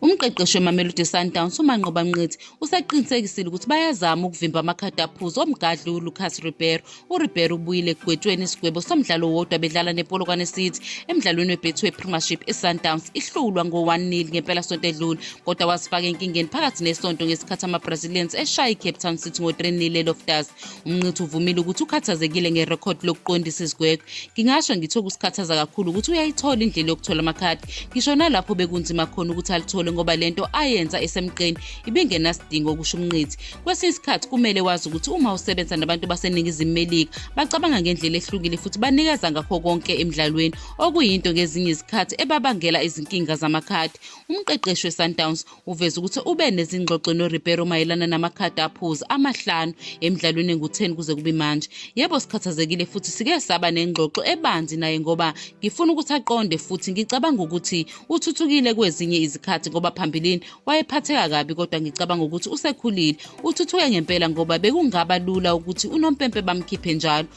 Umqeqeshi weMamelodi Sundowns uManqoba Mnqithi usaqinisekisile ukuthi bayazama ukuvimba amakhadi aphuzi omgadli uLucas Ribeiro. URibeiro ubuyile ekugwetshweni isigwebo somdlalo wodwa bedlala nePolokwane City emdlalweni weBetway Premiership iSundowns ihlulwa ngo-1-0 ngempelasonto edlule kodwa wazifaka enkingeni phakathi nesonto ngesikhathi amaBrazilians eshaya iCape Town City ngo-3-0 eLoftus. umnqithi uvumile ukuthi ukhathazekile ngerekhodi lokuqondisa izigwegwe ngingasho ngithi okusikhathaza kakhulu ukuthi uyayithola indlela yokuthola amakhadi ngisho nalapho bekunzima khona ukuthi alithole ngoba le nto ayenza esemqeni ibingenasidingo okusho umnqithi kwesinye isikhathi kumele wazi ukuthi uma usebenza nabantu baseningizimu melika bacabanga ngendlela ehlukile futhi banikeza ngakho konke emdlalweni okuyinto ngezinye izikhathi ebabangela izinkinga zamakhadi umqeqeshi wesundowns Uveze ukuthi ube nezingxoxo noRibeiro mayelana namakhadi aphuzi amahlanu emidlalweni engu-10 kuze kube manje. Yebo sikhathazekile futhi sike saba nengxoxo ebanzi naye ngoba ngifuna ukuthi aqonde futhi ngicabanga ukuthi uthuthukile kwezinye izikhathi ngoba phambilini wayephatheka kabi kodwa ngicabanga ukuthi usekhulile. Uthuthuke ngempela ngoba bekungaba lula ukuthi unompempe bamkhiphe njalo.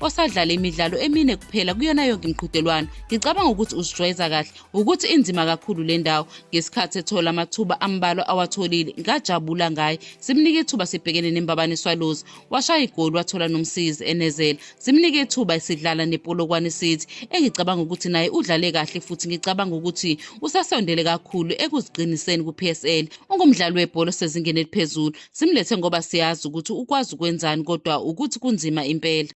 osadlale imidlalo emine kuphela kuyona yonke imiqhudelwano ngicabanga ukuthi uzijwayeza kahle ukuthi inzima kakhulu le ndawo ngesikhathi ethola amathuba ambalwa awatholile ngajabula ngaye simnike ithuba sibhekene nembabane swallows washaya igoli wathola nomsizi enezela simnike ithuba esidlala nepolokwane city engicabanga ukuthi naye udlale kahle futhi ngicabanga ukuthi usasondele kakhulu ekuziqiniseni ku-psl ungumdlali webhola osezingeni eliphezulu simlethe ngoba siyazi ukuthi ukwazi ukwenzani kodwa ukuthi kunzima impela